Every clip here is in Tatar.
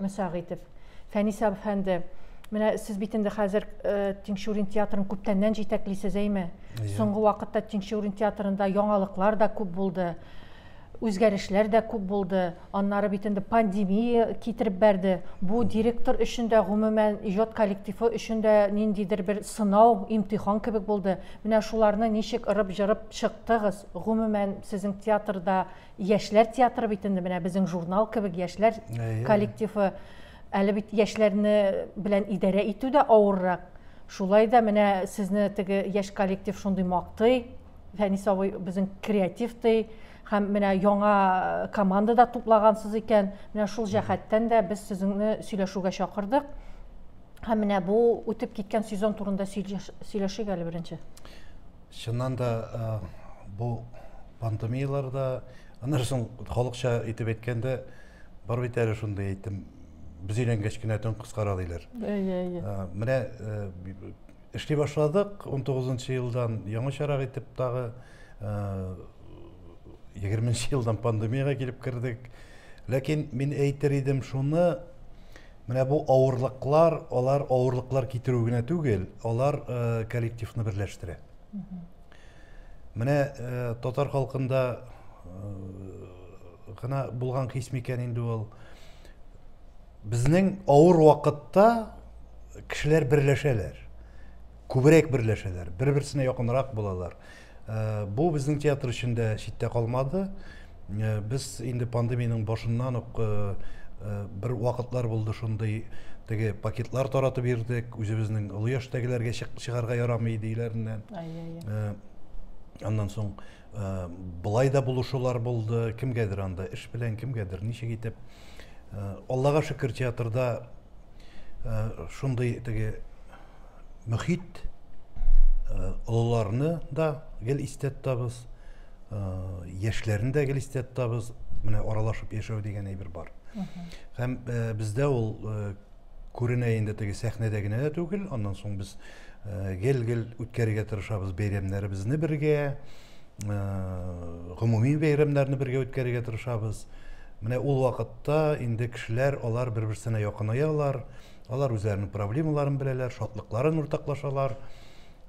Мәсәгыйтов. Фәнис әфәнде, менә сез бит инде хәзер э, Тинчурин театрын күптәннән җитәклисез, әйме? Соңгы вакытта Тинчурин театрында яңалыклар да күп булды, үзгәрешләр дә күп булды. Аннары бит инде пандемия китереп бәрде. Бу директор өчен дә, гомумән, иҗат коллективы өчен дә ниндидер бер сынау, имтихан кебек булды. Менә шуларны ничек ырып-җырып чыктыгыз? Гомумән, сезнең театрда Яшьләр театры бит инде менә безнең журнал кебек яшьләр коллективы. Әле бит яшьләрне белән идарә итү дә авыррак. Шулай да менә сезне теге яшь коллектив шундый мактый. Фәнис абый безнең креатив ди. Һәм менә яңа э, команда да туплагансыз икән. Менә шул җәһәттән дә без сезне сөйләшүгә чакырдык. Һәм менә бу үтеп киткән сезон турында сөйләшик әле беренче. Чыннан да, бу пандемияләрдә, аннары соң халыкча итеп әйткәндә, бар бит әле шундый әйтем, без өйләнгәч кенә төн кыскара диләр. Әйе, әйе. Менә эшли башладык, 19 нчы елдан яңачарак итеп тагы 20 нчы елдан пандемиягә килеп кердек. Ләкин мин әйтер идем шуны, Менә бу авырлыклар, алар авырлыклар китерү генә түгел, алар э, коллективны берләштерә. Менә э, татар халкында э, гына булган хис микән инде ул? Безнең авыр вакытта кешеләр берләшәләр күбрәк берләшәләр бер берсенә якынрак булалар Бу безнең театр өчен дә читтә калмады. Без инде пандемиянең башыннан ук бер вакытлар булды шундый, теге пакетлар таратып йөрдек, үзебезнең олы яшьтәгеләргә чыгарга ярамый диюләреннән. Аннан соң болай да булышулар булды, кемгәдер анда эш белән, кемгәдер ничек итеп. Аллага шөкер, театрда шундый теге мөхит олыларны да гел истә тотабыз яшьләрне дә гел истә тотабыз менә аралашып яшәү дигән әйбер бар һәм бездә ул күренә инде теге сәхнәдә генә дә түгел аннан соң без гел гел үткәрергә тырышабыз бәйрәмнәребезне бергә гомуми бәйрәмнәрне бергә үткәрергә тырышабыз менә ул вакытта инде кешеләр алар бер берсенә якынаялар Алар үзләренең проблемаларын беләләр, шатлыкларын уртаклашалар.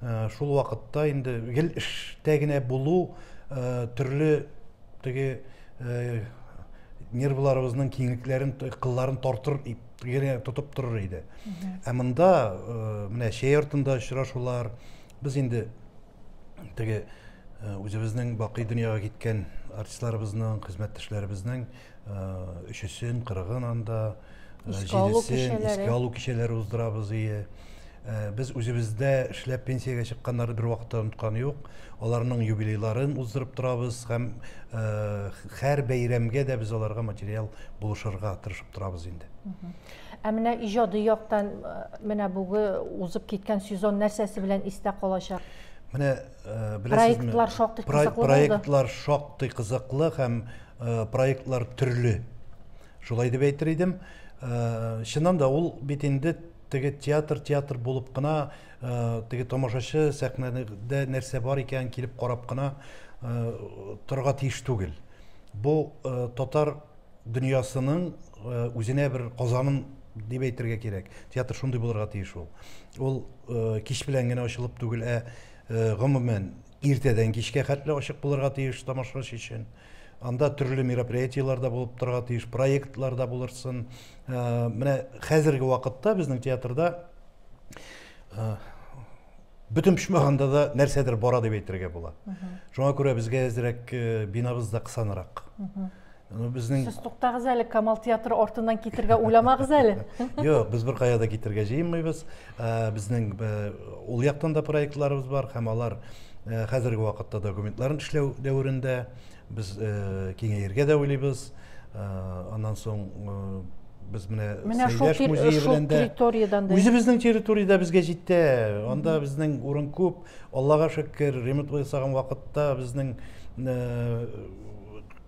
Э, шул вакытта инде гел эштә генә булу э, төрле теге э, нервларыбызның киңлекләрен, кылларын тартыр генә тотып торыр иде. Ә монда менә чәй артында очрашулар, без инде теге үзебезнең бакый дөньяга киткән артистларыбызның, хезмәттәшләребезнең өчесен кырыгын анда җидесен искә алу кичәләре уздырабыз ие без үзебездә эшләп пенсиягә чыкканнары бер вакытта онытканы юк аларның юбилейларын уздырып торабыз һәм һәр бәйрәмгә дә без аларга материал булышырга тырышып торабыз инде ә менә иҗади яктан менә бүге узып киткән сезон нәрсәсе белән истә калачак менә Э, проектлар шактый кызыклы проектлар шактый кызыклы һәм э, проектлар төрле шулай дип әйтер идем э, чыннан да ул бит инде теге театр театр булып кына теге тамашачы сәхнәдә нәрсә бар икәнен килеп карап кына торырга тиеш түгел бу татар дөньясының э, үзенә бер казаным дип әйтергә кирәк. Театр шундый булырга тиеш ул. Ул э, кич белән генә ачылып түгел, ә э, гомумән иртәдән кичкә хәтле ачык булырга тиеш тамашачы өчен. Анда төрле мероприятиеләр дә булып торырга тиеш, проектлар да булырсын. Менә хәзерге вакытта безнең театрда Бөтен почмагында да нәрсәдер бара дип әйтергә була. Шуңа күрә безгә әзрәк э, бинабыз да кысанрак. Ну, безнең... Сез туктагыз әле, Камал театры артыннан китергә уйламагыз әле. Юк, без бер кая да китергә җыенмыйбыз. Э, безнең э, ул яктан да проектларыбыз бар һәм алар хәзерге вакытта документларын эшләү дәверендә. Без киңәергә дә уйлыйбыз. Аннан соң без менә Сәйдәш музее белән дә үзебезнең территориядә безгә җитә. Анда безнең урын күп. Аллага шөкер, ремонт ясаган вакытта безнең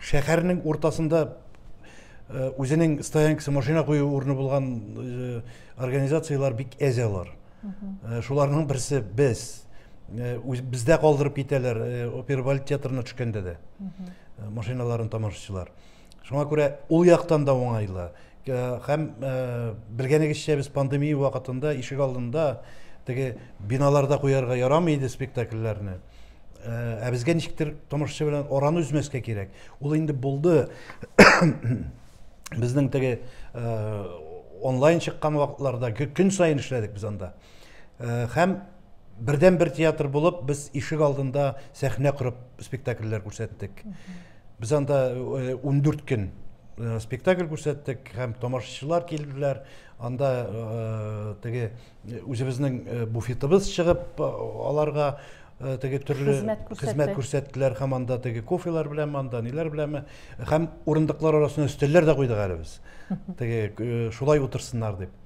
шәһәрнең уртасында үзенең стоянкасы, машина кую урыны булган организацияләр бик әз алар. Э, шуларның берсе без э, бездә калдырып китәләр э, оперваль театрына төшкәндә дә машиналарын тамашачылар шуңа күрә ул яктан да уңайлы һәм белгәнегезчә без пандемия вакытында ишек алдында теге биналарда куярга ярамый иде спектакльләрне Ә безгә ничектер тамашачы белән араны өзмәскә кирәк. Ул инде булды. Безнең теге онлайн чыккан вакытларда көн саен эшләдек без анда. Һәм бердән бер театр булып без ишек алдында сәхнә корып спектакльләр күрсәттек. Без анда 14 көн спектакль күрсәттек һәм тамашачылар килделәр. Анда теге Үзебезнең буфетыбыз чыгып, аларга теге төрле хезмәт күрсәттеләр һәм анда теге кофелар белән анда ниләр беләме һәм урындыклар арасына өстәлләр дә куйдык әле без теге шулай утырсыннар дип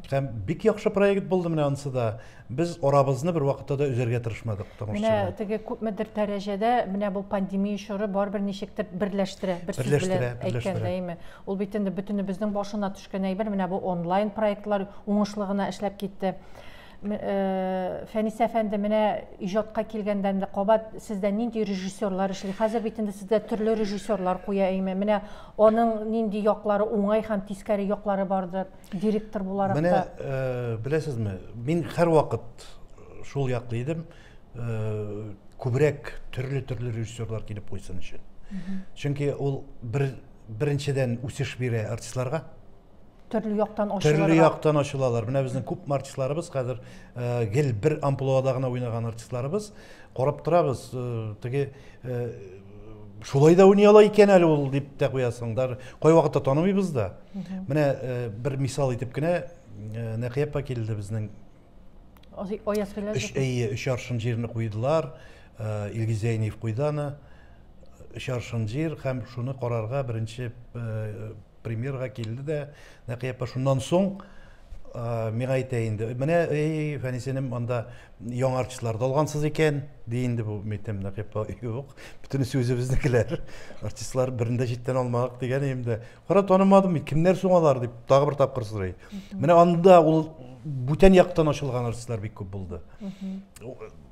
Һәм бик яхшы проект булды менә анысы да. Без арабызны бер вакытта да үзәргә тырышмадык. Менә теге күпмедер дәрәҗәдә менә бу пандемия чоры барыбер ничектер берләштерә, бер сүз белән әйткәндә, әйме. Ул бит инде бөтенебезнең башына төшкән әйбер, менә бу онлайн проектлар уңышлы гына эшләп китте. Фәнис әфәнде, менә иҗатка килгәндә инде кабат сездә нинди режиссерлар эшли? Хәзер бит инде сездә төрле режиссерлар куя әйме. Менә аның нинди яклары уңай һәм тискәре яклары бардыр, директор буларак та. Менә беләсезме, мин һәрвакыт шул яклы идем, күбрәк төрле-төрле режиссерлар килеп куйсын өчен. Чөнки ул бер Беренчедән, үсеш бирә артистларга. Төрле яктан ачылырга. Төрле яктан ачылалар. Менә безнең күп артистларыбыз хәзер э, гел бер амплуада гына уйнаган артистларыбыз. Карап торабыз, э, теге э, шулай да уйный ала икән әле ул дип тә куясың. Даже кай вакытта танымыйбыз да. Менә бер мисал итеп кенә Нәкыяпа килде безнең Өч әйе, өч аршын җирне куйдылар, Илгиз Зәйниев куйды аны. Өч аршын җир һәм шуны карарга беренче премьерга килде дә, Нәкый апа шуннан соң миңа әйтә инде, менә эй, Фәнисенем анда яңа артистлар да алгансыз икән, ди инде бу, әйтәм, Нәкый апа, юк, бөтенесе үзебезнекеләр, артистлар берни дә читтән алмадык, дигән идем дә, Кара, танымадым бит, кемнәр соң алар дип тагы бер тапкыр сорый. Менә анда ул бүтән яктан ачылган артистлар бик күп булды.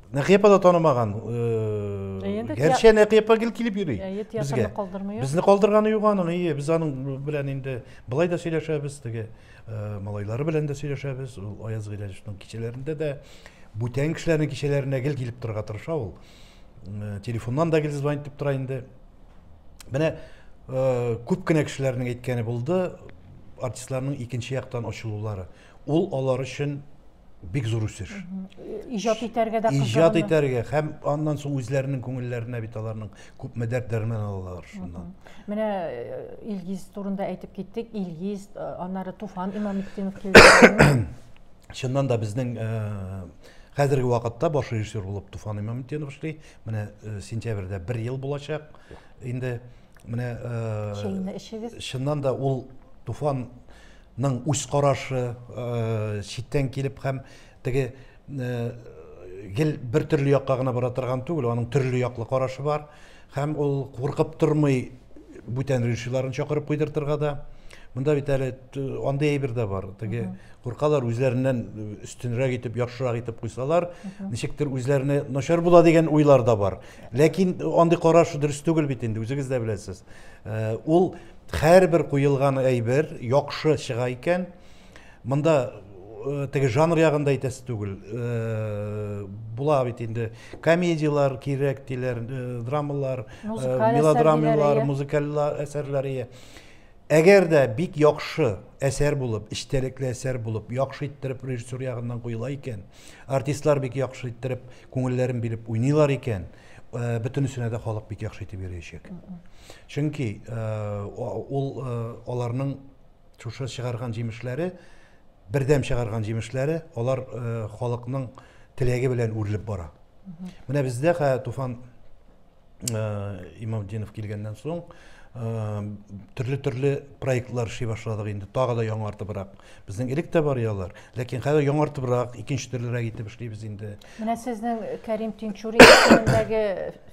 Нәкыя апа да танымаган. Э, Гәрчә Нәкыя апа гел килеп йөри. Безгә калдырмый. Безне калдырганы юк аның, ие, без аның белән инде былай да сөйләшәбез, теге э, малайлары белән дә сөйләшәбез. Ул Аяз Гыйләҗевнең кичәләрендә дә бүтән кешеләрнең кичәләренә гел килеп торырга тырыша ул. Э, телефоннан да гел звонить итеп тора инде. Менә э, күп кенә кешеләрнең әйткәне булды, артистларның икенче яктан ачылулары. Ул алар өчен бик зур үсеш. Иҗат итәргә дә кызыгыны. Иҗат итәргә һәм аннан соң үзләренең күңелләренә бит аларның күп мәдәр дәрмен алалар шуннан. Менә э, Илгиз турында әйтеп киттек. Илгиз, э, аннары Туфан Имаметдинов килде. Чыннан да безнең э, хәзерге вакытта баш режиссер булып Туфан Имаметдинов эшли, Менә э, сентябрьдә бер ел булачак. Инде менә э, Чәйне эчегез. чыннан да ул туфанның үз карашы э, читтән килеп һәм теге э, гел бер төрле якка гына бара торган түгел, аның төрле яклы карашы бар һәм ул куркып тормый бүтән режиссерларын чакырып куйдыртырга да. Монда бит әле андый әйбер дә бар теге куркалар үзләреннән өстенрәк итеп яхшырак итеп куйсалар ничектер үзләренә начар була дигән уйлар да бар ләкин андый караш дөрес түгел бит инде үзегез дә беләсез э, ул һәрбер куелган әйбер яхшы чыга икән монда э, теге жанр ягында әйтәсе түгел э, була бит инде комедиялар кирәк диләр драмалар мелодрамалар музыкаль әсәрләр Әгәр дә бик яхшы әсәр булып, эчтәлекле әсәр булып, яхшы иттереп режиссер ягыннан куела икән, артистлар бик яхшы иттереп күңелләрен биреп уйныйлар икән, бөтенесенә дә халык бик яхшы итеп йөриячәк. Чөнки ул аларның шушы чыгарган җимешләре, бердәм чыгарган җимешләре, алар халыкның теләге белән үрелеп бара. Менә бездә Туфан Имамдинов килгәннән соң төрле төрле проектлар эшли башладык инде тагы да яңартыбрак безнең элек тә бар яллар ләкин хәзер яңартыбрак икенче төрлерәк итеп эшлибез инде менә сезнең кәрим тинчурин исемендәге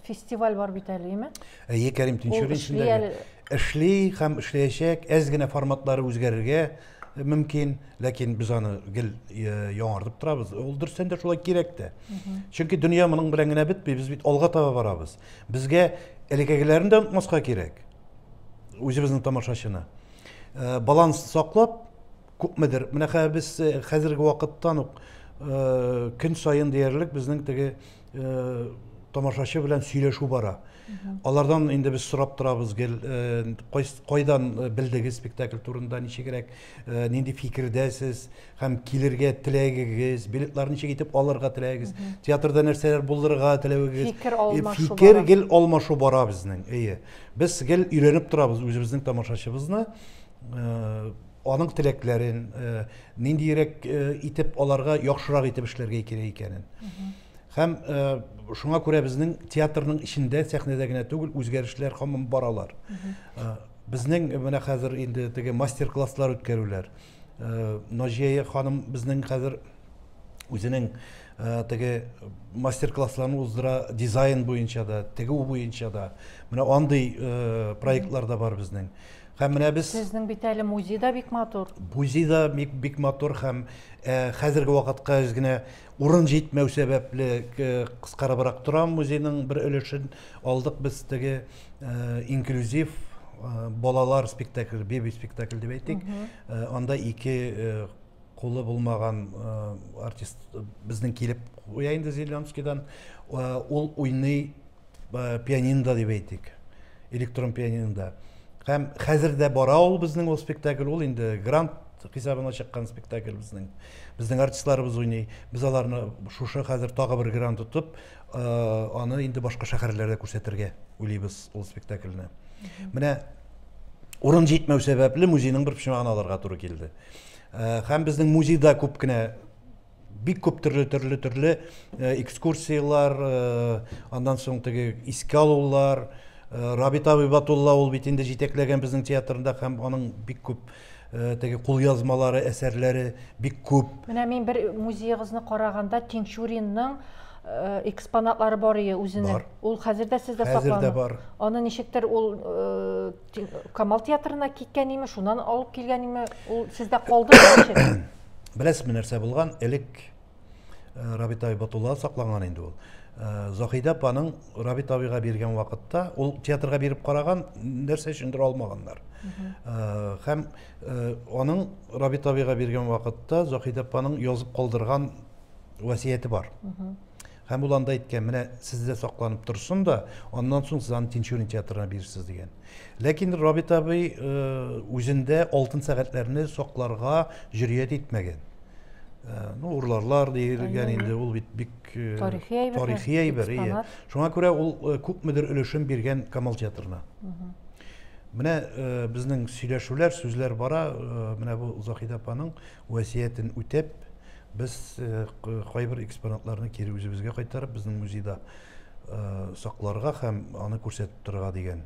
фестиваль бар бит әле име әйе кәрим тинчурин исемендәге эшли һәм эшләячәк әз генә форматлары үзгәрергә мөмкин ләкин без аны гел яңартып торабыз ул дөрестән дә шулай кирәк тә чөнки дөнья моның белән генә бетми без бит алга таба барабыз безгә элеккегеләрен дә онытмаска кирәк үзебезнең тамашачыны э, баланс саклап күпмедер менә хәзер без э, хәзерге вакыттан ук э, көн саен диярлек безнең теге э, тамашачы белән сөйләшү бара алардан инде без сорап торабыз гел э, кайдан э, белдегез спектакль турында ничегрәк э, нинди фикердәсез һәм килергә теләгегез билетлар ничек итеп алырга теләгегез театрда нәрсәләр булдырырга теләвегез фикер алмашу фикер гел алмашу бара безнең әйе без гел өйрәнеп торабыз үзебезнең тамашачыбызны аның теләкләрен, э, ниндиерәк э, итеп аларга яхшырак итеп эшләргә кирәк икәнен. Һәм э, шуңа күрә безнең театрның эчендә, сәхнәдә генә түгел, үзгәрешләр һаман баралар. Э, Безнең менә хәзер инде теге мастер-класслар үткәрүләр. Э, Наҗия ханым безнең хәзер үзенең э, теге мастер-классларын уздыра дизайн буенча да, тегү буенча да. Менә андый э, проектлар да бар безнең. Һәм менә без Сезнең бит әле музей да бик матур. Музей да бик, бик матур һәм ә, хәзерге вакытка үз генә урын җитмәү сәбәпле ә, кыскарыбрак тора музейның бер өлешен алдык без теге ә, инклюзив ә, балалар спектакль, беби спектакль дип әйтик. Ә, анда ике ә, Кулы булмаган артист безнең килеп куя инде Зеленскийдан. Ул уйный пианинда дип әйтик, электрон пианинда. Һәм хәзер дә бара ул безнең ул спектакль, ул инде грант хисабына чыккан спектакль безнең. Безнең артистларыбыз уйный. Без аларны шушы хәзер тагы бер грант тотып, аны инде башка шәһәрләрдә күрсәтергә уйлыйбыз ул спектакльне. Менә урын җитмәү сәбәпле музейның бер почмагын алырга туры килде э, һәм безнең музейда күп кенә бик күп төрле төрле төрле э, экскурсиялар э, аннан соң теге искә алулар рабит абый батулла ул бит инде җитәкләгән безнең театрында һәм аның бик күп Э, теге кулъязмалары, әсәрләре бик күп. Менә мин бер музеегызны караганда Тинчуринның э, экспонатлары бар ие үзенең. Бар. Ул хәзер дә сездә саклана. Хәзер дә бар. Аны ничектер ул э, Камал театрына киткән име, шуннан алып килгән име, ул сездә калды ничек? Беләсезме нәрсә булган? Элек Э, Рабит абый Батулла сакланган инде ул. Э, Заһидә апаның Рабит абыйга биргән вакытта ул театрга биреп караган, нәрсә өчендер алмаганнар. Э, һәм аның Рабит абыйга биргән вакытта Заһидә апаның язып калдырган васияте бар. Һәм ул анда әйткән, менә сездә сакланып торсын да, аннан соң сез аны Тинчурин театрына бирерсез дигән. Ләкин Рабит абый э, үзендә алтын сәгатьләрне сакларга җөрьят итмәгән. Э, ну, урларлар диелгән инде, ул бит бик э, тарихи әйбер. Тарихи әйбер, ие. Шуңа күрә ул күпмедер өлешен биргән Камал театрына. Менә безнең сөйләшүләр, сүзләр бара, менә бу Заһид апаның Вәсиятен үтәп, без кайбер экспонатларны кире үзебезгә кайтарып, безнең музейда сакларга һәм аны күрсәтеп торырга дигән.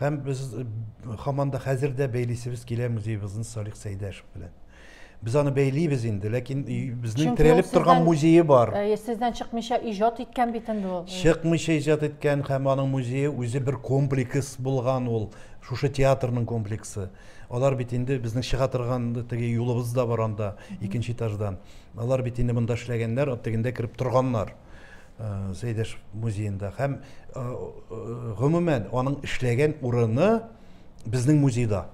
Һәм без һаман да хәзер дә бәйлисебез килә музеебызны Салих Сәйдәшев белән. Без аны бәйлибез инде, ләкин безнең терәлеп торган музее бар. Әйе, сездән чыкмыйча иҗат иткән бит инде ул. Чыкмыйча иҗат иткән һәм аның музее үзе бер комплекс булган ул, шушы театрның комплексы. Алар бит инде безнең чыга торган теге юлыбыз да бар анда, икенче этаждан. Алар бит инде монда эшләгәннәр, тегендә кереп торганнар. Э, Сәйдәш музеенда һәм э, э, гомумән аның эшләгән урыны безнең музейда.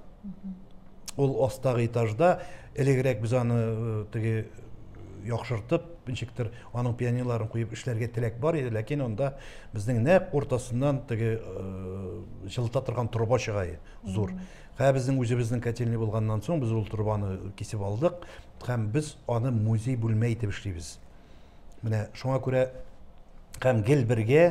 Ул астагы этажда элегрәк без аны теге яхшыртып, ничектер аның пионерларын куеп эшләргә теләк бар иде, ләкин анда безнең нәкъ уртасыннан теге җылыта торган труба чыга иде. зур. Һә безнең үзебезнең котельный булганнан соң без ул трубаны кисеп алдык һәм без аны музей бүлмә итеп эшлибез. Менә шуңа күрә һәм гел бергә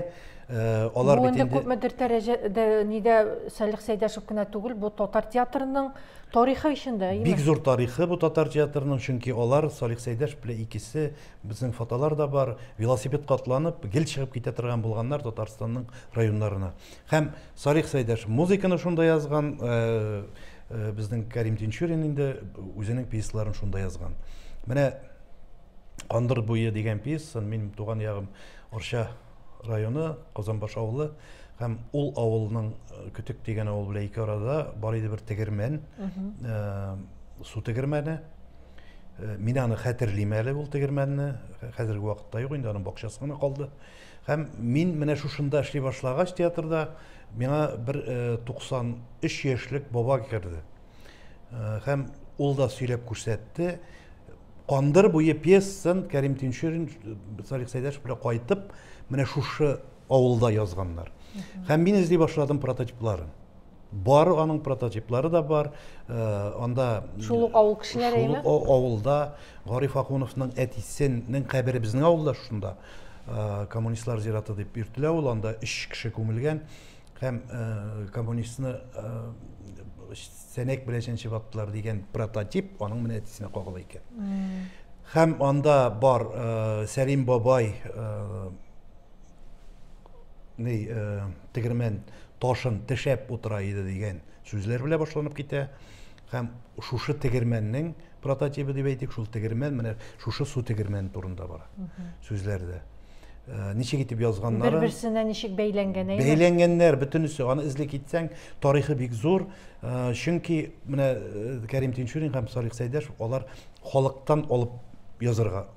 э, алар бит инде Бу күпмедер дәрәҗәдә нидә Салих Сәйдәшев кенә түгел, бу татар театрының тарихы эчендә, әйеме? Бик зур тарихы бу татар театрының, чөнки алар Салих Сәйдәшев белән икесе безнең фотолар да бар, велосипед катланып гел чыгып китә торган булганнар Татарстанның районнарына. Һәм Салих Сәйдәш музыканы шунда язган, безнең Кәрим Тинчурин инде үзенең пьесаларын шунда язган. Менә Кандыр буе дигән пьеса, мин туган ягым Орча районы, Казанбаш авылы һәм ул авылның э, көтек дигән авыл белән ике арада бар иде бер тегермән э, су тегермәне э, мин аны хәтерлим әле ул тегермәнне хәзерге вакытта юк инде аның бакчасы гына калды Һәм мин менә шушында эшли башлагач, театрда миңа бер 93 яшьлек баба керде. Һәм ул да сөйләп күрсәтте. Кандыр буе пьесасын Кәрим Тинчурин Салих Сәйдәшев белән кайтып, менә шушы авылда язганнар. Һәм мин эзли башладым прототипларын. Бар, аның прототиплары да бар. Э, анда Шул ук авыл кешеләре шул ук авылда Гариф Ахуновның әтисенең кабере безнең авылда шунда. Э, коммунистлар зираты дип йөртелә ул, анда өч кеше күмелгән һәм э, коммунистны сәнәк белән чәнчеп аттылар дигән прототип аның менә әтисенә кагыла икән. Һәм анда бар Сәлим бабай ни тегермән ташын тешәп утыра иде дигән сүзләр белән башланып китә һәм шушы тегермәннең прототибы дип әйтик шул тегермән менә шушы су тегермәне турында бара сүзләрдә э, ничек итеп язганнары бер берсенә ничек бәйләнгән әйе бәйләнгәннәр бөтенесе аны эзли китсәң тарихы бик зур э, чөнки менә э, кәрим тинчурин һәм салих сәйдәшев алар халыктан алып язырга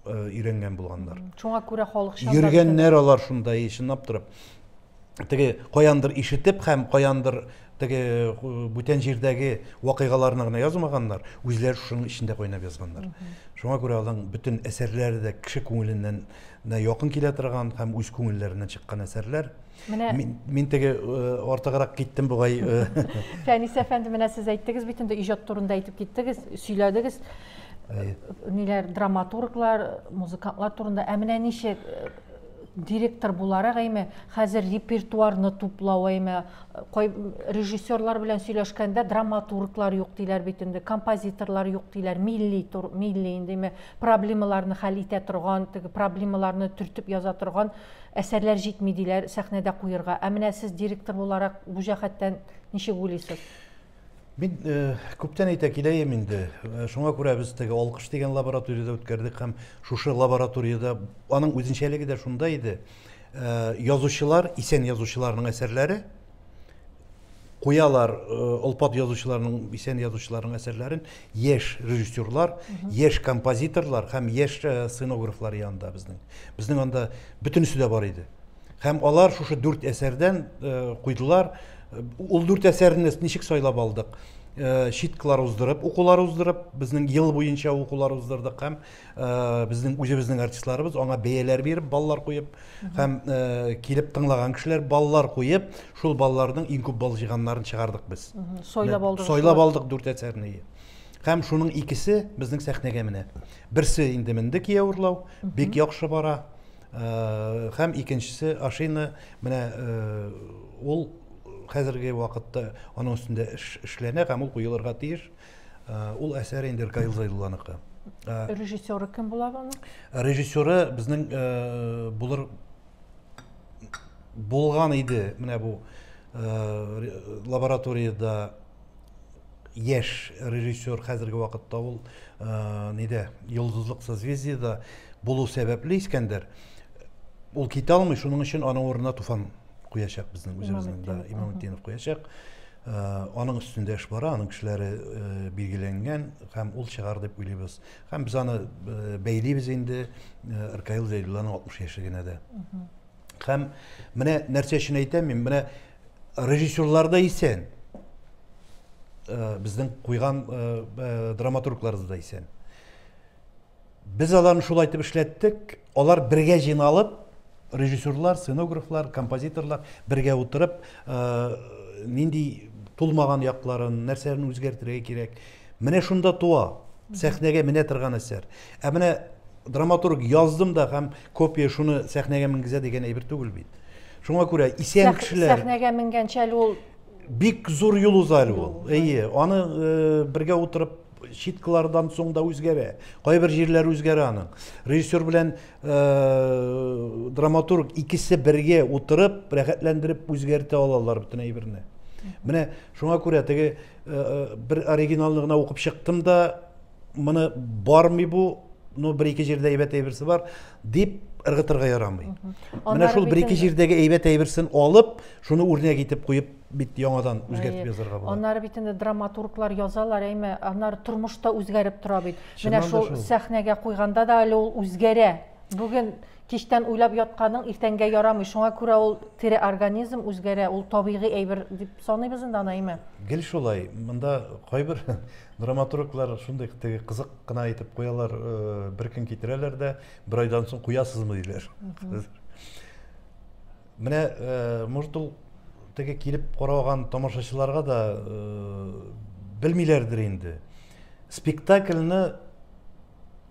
өйрәнгән булганнар шуңа күрә халыкчан йөргәннәр алар шунда и чынлап торып теге каяндыр ишетеп һәм каяндыр теге бүтән җирдәге вакыйгаларны гына язмаганнар үзләре шуның эчендә кайнап язганнар шуңа күрә аларның бөтен әсәрләре дә кеше күңеленнән якын килә торган һәм үз күңелләреннән чыккан әсәрләр Менә мин теге артыграк киттем бугай. Фәнис әфәнде, менә сез әйттегез бит инде иҗат турында әйтеп киттегез, сөйләдегез. Ниләр драматурглар, музыкантлар турында. Ә менә ничек директор буларак әйме хәзер репертуарны туплау әйме кай режиссерлар белән сөйләшкәндә драматурглар юк диләр бит инде композиторлар юк диләр милли милли инде проблемаларны хәл итә торган теге проблемаларны төртеп яза торган Әсәрләр җитми диләр сәхнәдә куерга. Ә менә сез директор буларак бу җәһәттән ничек уйлыйсыз? Мин күптән әйтә киләем инде. Шуңа күрә без теге алкыш дигән лабораториядә үткәрдек һәм шушы лабораториядә аның үзенчәлеге дә шунда иде. Язучылар, исән язучыларның әсәрләре куялар олпат язучыларның исән язучыларның әсәрләрен яшь режиссерлар яшь композиторлар һәм яшь сценографлар янында безнең безнең анда бөтенесе дә бар иде һәм алар шушы дүрт әсәрдән куйдылар ул дүрт әсәрне ничек сайлап алдык читкалар уздырып укулар уздырып безнең ел буенча укулар уздырдык һәм безнең үзебезнең артистларыбыз аңа бәяләр биреп баллар куеп һәм килеп тыңлаган кешеләр баллар куеп шул балларның иң күп балл җыйганнарын чыгардык без сайлап алдык сайлап алдык дүрт әсәрне һәм шуның икесе безнең сәхнәгә менә берсе инде менде кияү урлау бик яхшы бара һәм икенчесе ашина менә ул хәзерге вакытта аның өстендә эш эшләнә һәм ул куелырга тиеш Ул әсәр инде Ркаил Зәйдулланыкы. Режиссеры кем була аны? Режиссеры безнең булыр булган иде. Менә бу лабораториядә яшь режиссер хәзерге вакытта ул нидә Йолдызлык созвездиедә булу сәбәпле Искәндәр ул китә алмый, шуның өчен аның урынына Туфан куячак безнең үзебезнең да Имамутдинов куячак. Э, аның өстендә эш бара аның кешеләре э, билгеләнгән һәм ул чыгар дип уйлыйбыз һәм без аны э, бәйлибез инде ркаил зәйдулланың алтмыш яшьлегенә дә һәм менә нәрсә өчен әйтәм мин менә режиссерлар да исән безнең куйган драматургларыбыз да исән Без аларны шулай итеп эшләттек. Алар бергә җыйналып, режиссерлар, сценографлар, композиторлар бергә утырып, э, нинди тулмаган якларын, нәрсәләрне үзгәртергә кирәк. Менә шунда туа сәхнәгә менә торган әсәр. Ә менә драматург яздым да һәм копия шуны сәхнәгә менгезә дигән әйбер түгел бит. Шуңа күрә исән кешеләр сәхнәгә менгәнчә әле ул бик зур юл уза әле ул. Әйе, аны э, бергә утырып читкылардан соң да үзгәрә. Кайбер җирләре үзгәрә аның. Режиссер белән э, драматург икесе бергә утырып, рәхәтләндереп үзгәртә алалар бөтен әйберне. Менә шуңа күрә теге э, э, бер оригиналны гына укып чыктым да, моны бармый бу, ну бер ике җирдә әйбәт әйберсе бар, дип ыргытырга ярамый. Менә шул бер ике җирдәге әйбәт әйберсен алып, шуны үрнәк итеп куеп бит яңадан үзгәртеп язарга була. Аннары бит инде драматурглар язалар, әйме, аннары тормыш та үзгәреп тора бит. Менә шул сәхнәгә куйганда да әле ул үзгәрә. Бүген кичтән уйлап ятканың иртәнгә ярамый. Шуңа күрә ул тере организм үзгәрә, ул табигый әйбер дип саныйбыз инде аны, әйме? Гел шулай. Монда кайбер драматурглар шундый теге кызык кына әйтеп куялар, э, бер көн китерәләр дә, бер айдан соң куясызмы диләр. Менә, может, ул теге килеп караган тамашачыларга да белмиләрдер инде. Спектакльне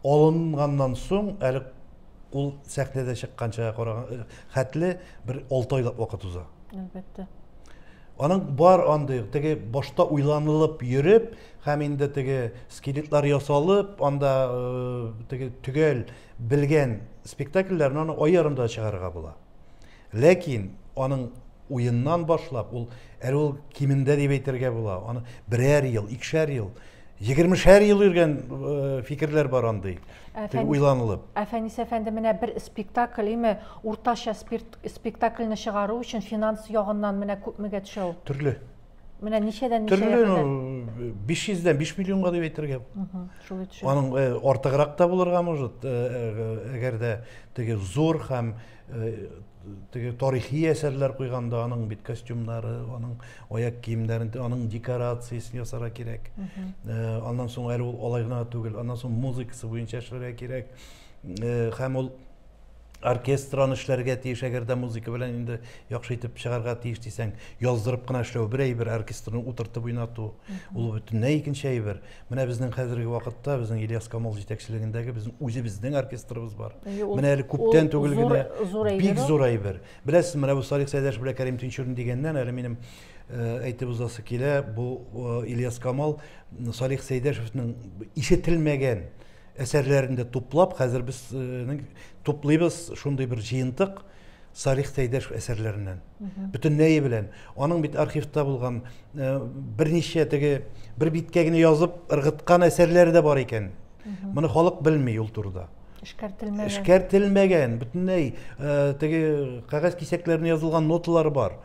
алынганнан соң, әле ул сәхнәдә чыкканча караган хәтле бер 6 айлап вакыт уза. Әлбәттә. Аның бар андый, теге башта уйланылып йөреп, һәм инде теге скелетлар ясалып, анда теге төгәл Белгән спектакльләрен аны ай ярымда да чыгарырга була. Ләкин аның уеннан башлап, ул әле ул кимендә дип әйтергә була, аны берәр ел, икешәр ел, егермешәр ел йөргән э, фикерләр бар андый. Әфән... уйланылып. Әфәнис әфәнде менә бер спектакль, име уртача спирт, спектакльне чыгару өчен финанс ягыннан менә күпмегә төшә ул? Төрле. Менә ничәдән ничәгә Төрле, кадәр? ну, 500-дән 5 миллионга дип әйтергә. Мгм, Шулай төшә. Аның э, артыграк та булырга может, э, э, әгәр дә теге зур һәм э, теге тарихи әсәрләр куйганда аның бит костюмнары, аның аяк киемнәрен, аның декорациясен ясарга кирәк. Э, Аннан соң әле ул алай гына түгел, аннан соң музыкасы буенча эшләргә кирәк. Э, Һәм ул оркестр аны эшләргә тиеш әгәр дә музыка белән инде яхшы итеп чыгарга тиеш дисәң яздырып кына эшләү бер әйбер оркестрны утыртып уйнату ул бөтенләй икенче әйбер менә безнең хәзерге вакытта безнең ильяс камал җитәкчелегендәге безнең үзебезнең оркестрыбыз бар менә әле күптән түгел генә бик зур әйбер беләсез менә бу салих сәйдәш белән кәрим тинчурин дигәннән әле минем э, әйтеп узасы килә бу э, ильяс камал салих сәйдәшевнең ишетелмәгән Әсәрләрен дә туплап, хәзер без туплыйбыз шундый бер җыентык Салих Сәйдәш әсәрләреннән. Бөтенләе белән. Аның бит архивта булган берничә теге бер биткә генә язып ыргыткан әсәрләре дә бар икән. Моны халык белми ул турыда. Эшкәртелмәгән. Эшкәртелмәгән, бөтенләй теге кәгазь кисәкләренә язылган ноталар бар.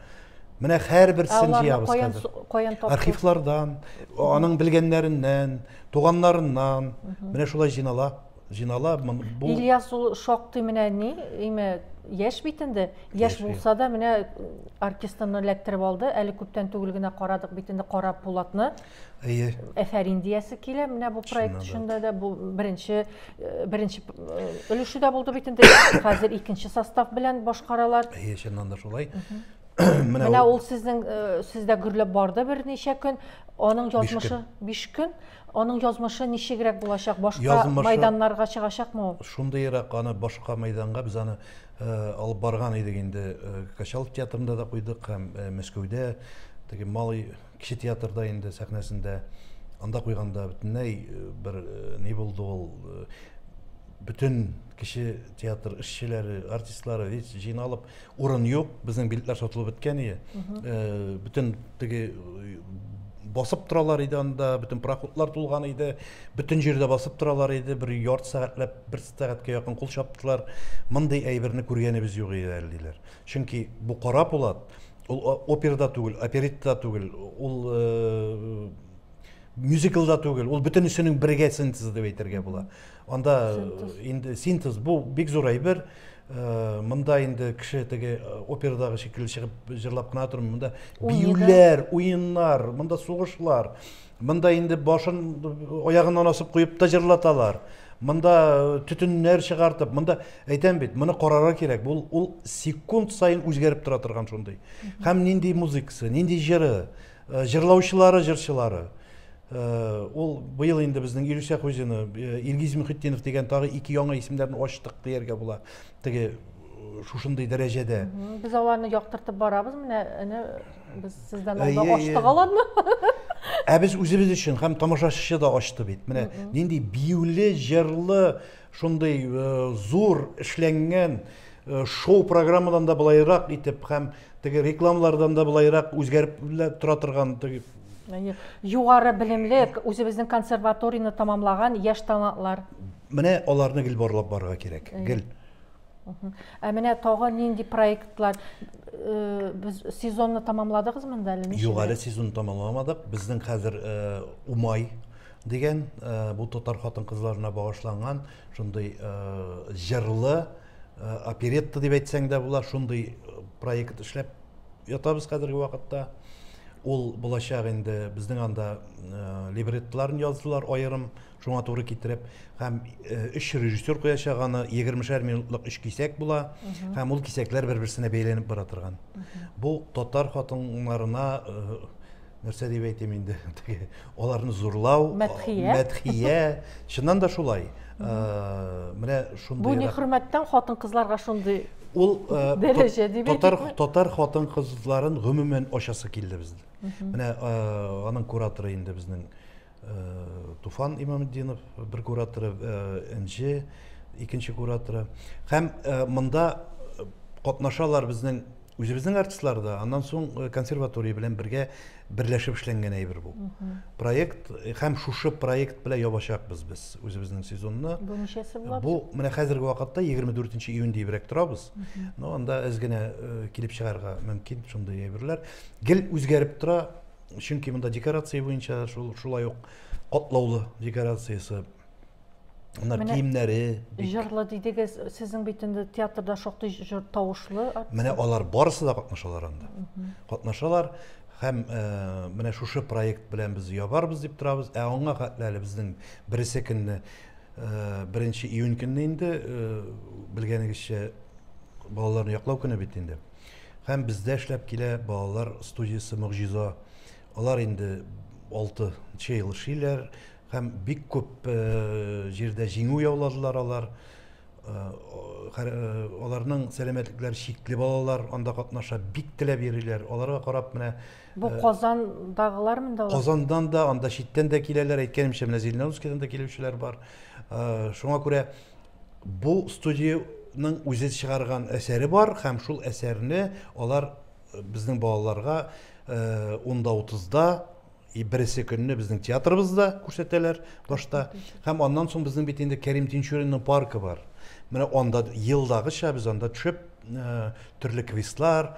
Менә һәрберсен җыябыз хәзер. Архивлардан, аның белгәннәреннән, Туганнарыннан, менә шулай җыйнала, җыйнала. Бу... Ильяс ул шактый менә ни, име, яшь бит инде. Яшь булса да менә артистымны эләктереп алды. Әле күптән түгел генә карадык бит инде Кара Пулатны. Әйе. Әфәрин диясе килә. Менә бу проект эчендә дә бу беренче э, беренче э, өлеше дә булды бит инде. Хәзер икенче состав белән башкаралар. Әйе, чыннан да шулай. Менә ул сезнең э, сездә гөрләп барды берничә көн, аның язмышы 5 көн. Аның язмышы ничегрәк булачак? Башка язмышы... мәйданнарга чыгачакмы ул? Шундыйрак аны башка мәйданга без аны э, алып барган идек инде. Э, Качалов театрында да куйдык һәм э, Мәскәүдә теге малый кече театрда инде сәхнәсендә анда куйганда бөтенләй э, бер э, ни булды ул э, бөтен кеше театр эшчеләре, артистлары весь җыйналып Урын юк, безнең билетлар сатылып беткән ие. Бөтен теге басып торалар иде анда, бөтен пароходлар тулган иде, бөтен җирдә басып торалар иде, бер ярты сәгатьләп, бер сәгатькә якын кул чаптылар. Мондый әйберне күргәнебез юк иде әле диләр. Чөнки бу кара пулат, ул оперда түгел, оперитта түгел, ул мюзиклда түгел, ул бөтенесенең бергә синтезы дип әйтергә була. Анда инде синтез бу бик зур әйбер. Э, монда инде кеше теге э, операдагы шикелле чыгып җырлап кына тормый. Монда биюләр, уеннар, монда сугышлар. Монда инде башын аягыннан асып куеп та җырлаталар. Монда э, төтеннәр чыгартып, монда әйтәм бит, моны карарга кирәк. Бу ул секунд саен үзгәреп тора торган шундый. Һәм нинди музыкасы, нинди җыры. Э, җырлаучылары җырчылары э, ул быел инде безнең илүсә хуҗины э, илгиз мөхетдинов дигән тагы ике яңа исемнәрне ачтык дияргә була теге шушындый дәрәҗәдә без аларны яктыртып барабыз менә әнә без сездән алда ачтык аларны ә без үзебез өчен һәм тамашачы да ачты бит менә нинди биюле җырлы Шундый зур эшләнгән шоу программадан да былайрак итеп һәм теге рекламалардан да былайрак үзгәреп тора торган теге югары белемле үзебезнең консерваторияне тамамлаган яшь талантлар менә аларны гел барлап барырга кирәк гел ә менә тагы нинди проектлар э, без сезонны тамамладыгызмы инде әле юк әле сезонны тамамламадык безнең хәзер э, умай Дигән бу татар хатын-кызларына багышланган шундый җырлы оперетта дип әйтсәң дә була, шундый проект эшләп ятабыз хәзерге вакытта. Ул булачак инде безнең анда либреттоларын яздылар аерым, шуңа туры китереп, һәм өч режиссер куячак аны, егермешәр минутлык өч кисәк була, һәм ул кисәкләр бер-берсенә бәйләнеп бара торган. Бу татар хатыннарына нәрсә дип әйтим инде теге аларны зурлау мәдхия мәдхия чыннан да шулай э, менә шундый бу не хөрмәттән хатын кызларга шундый ул э, дәрәҗә дип татар татар хатын кызларын гомумән ачасы килде безнең менә э, аның кураторы инде безнең э, Туфан Имаметдинов, бер кураторы, э, Энҗе, икенче кураторы. Һәм э, монда катнашалар безнең үзебезнең артистлар да, аннан соң консерватория белән бергә берләшеп эшләнгән әйбер бу. Проект һәм шушы проект белән ябачакбыз без үзебезнең сезонны. Бу ничәсе була? Бу менә хәзерге вакытта 24 июнь дибрәк торабыз. Но анда әз генә килеп чыгарга мөмкин шундый әйберләр. Гел үзгәреп тора, чөнки монда декорация буенча шул шулай ук катлаулы декорациясе Мына Менә киемнәре җырлы дидегез, сезнең бит инде театрда шактый җыр тавышлы. Менә алар барысы да катнашалар анда. Катнашалар һәм э, менә шушы проект белән без ябарбыз дип торабыз. Ә аңа хәтле әле безнең беренче көнне, э, беренче июнь көнне инде э, белгәнегезчә балаларны яклау көне бит инде. Һәм бездә эшләп килә балалар студиясе Могҗиза. Алар инде алты нчы ел эшлиләр һәм бик күп җирдә җиңү яуладылар алар. Аларның сәламәтлекләре чикле балалар анда катнаша, бик теләп йөриләр. Аларга карап менә. Бу Казандагылар монда алар? Казандан да, анда читтән дә киләләр, әйткәнемчә, менә Зеленоускидан да килүчеләр бар. Шуңа күрә. Бу студиянең үзе чыгарган әсәре бар һәм шул әсәрне алар э, безнең балаларга э, унда утызда и бересе көнне безнең театрыбызда күрсәтәләр башта һәм аннан соң безнең бит инде Кәрим Тинчуринның паркы бар. Менә анда елдагыча без анда төшеп э, төрле квестлар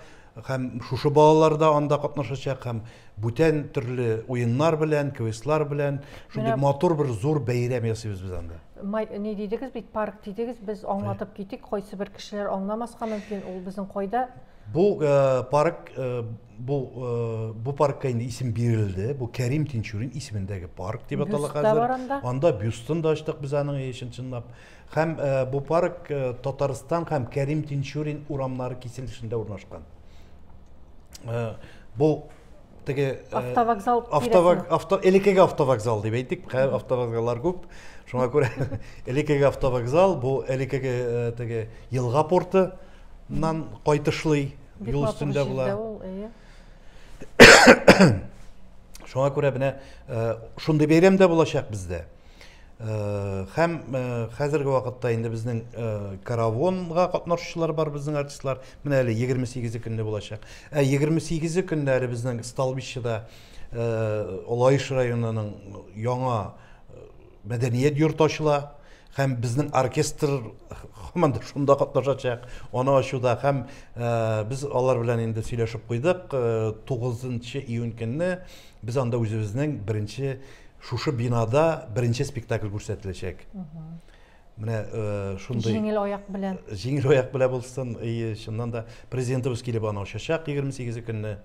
һәм шушы балалар да анда катнашачак һәм бүтән төрле уеннар белән, квестлар белән шундый Менә- матур бер зур бәйрәм ясыйбыз без анда. не дидегез бит парк дидегез без аңлатып китик кайсы бер кешеләр аңламаска мөмкин ул безнең кайда бу э, парк э, бу э, бу паркка инде исем бирелде бу кәрим тинчурин исемендәге парк дип атала хәзер анда бюстын да ачтык без аның чын чынлап һәм бу парк татарстан һәм кәрим тинчурин урамнары киселешендә урнашкан бу теге э, автовокзал автовок, авто, элекеге автовокзал дип әйтик хәзер автовокзаллар күп шуңа күрә элекеге автовокзал бу элекеге э, теге елга портыннан кайтышлый юл өстендә була шуңа күрә менә э, шундый бәйрәм дә булачак бездә Хәм хәзерге вакытта инде безнең каравонга катнашучылар бар безнең артистлар. Менә әле 28 көнне булачак. Ә 28 көнне әле безнең Сталбищеда Олайыш районының яңа мәдәният йорты ачыла. Хәм безнең оркестр хәман шунда катнашачак. Аны ачуда хәм без алар белән инде сөйләшеп куйдык. 9 июнь көнне без анда үзебезнең беренче Шушы бинада беренче спектакль күрсәтеләчәк. Менә э, шундый Җиңел аяк белән. Җиңел аяк белән булсын. И, чыннан да президентыбыз килеп аны ачачак 28 көнне.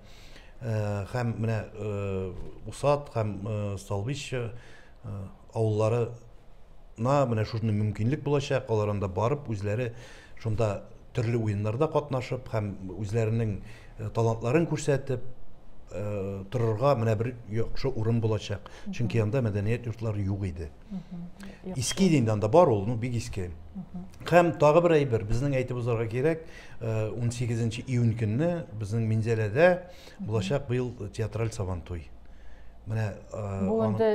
Э, һәм менә э, Усат һәм Столбич авылларына менә шундый мөмкинлек булачак. Алар анда барып үзләре шунда төрле уеннарда катнашып һәм үзләренең талантларын күрсәтеп торырга менә бер яхшы урын булачак. Чөнки анда мәдәният йортлары юк иде. Иске инде анда бар ул, ну бик иске. Һәм тагы бер әйбер, безнең әйтеп узарга кирәк, 18 июнь көнне безнең Минзәләдә булачак быел театраль Сабантуй. Менә бу инде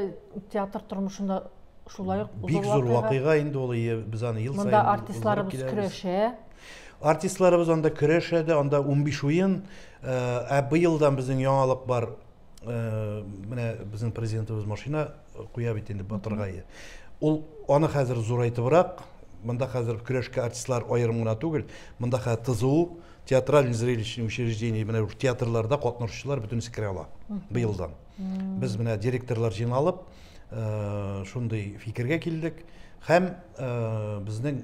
театр тормышында Шулай ук бик зур вакыйга инде ул без аны ел саен Монда артистларыбыз көрәшә. Артистларыбыз анда көрәшә дә, анда 15 уен. Ә быелдан безнең яңалык бар. Менә безнең президентыбыз машина куя бит инде батыргае. Ул аны хәзер зурайтыбрак, монда хәзер көрәшкә артистлар аерым гына түгел, монда хәзер ТЗУ, театральный зрелищный учреждение, менә театрларда катнашучылар бөтенесе керә ала быелдан. Без менә директорлар җыйналып, э, шундый фикергә килдек һәм э, безнең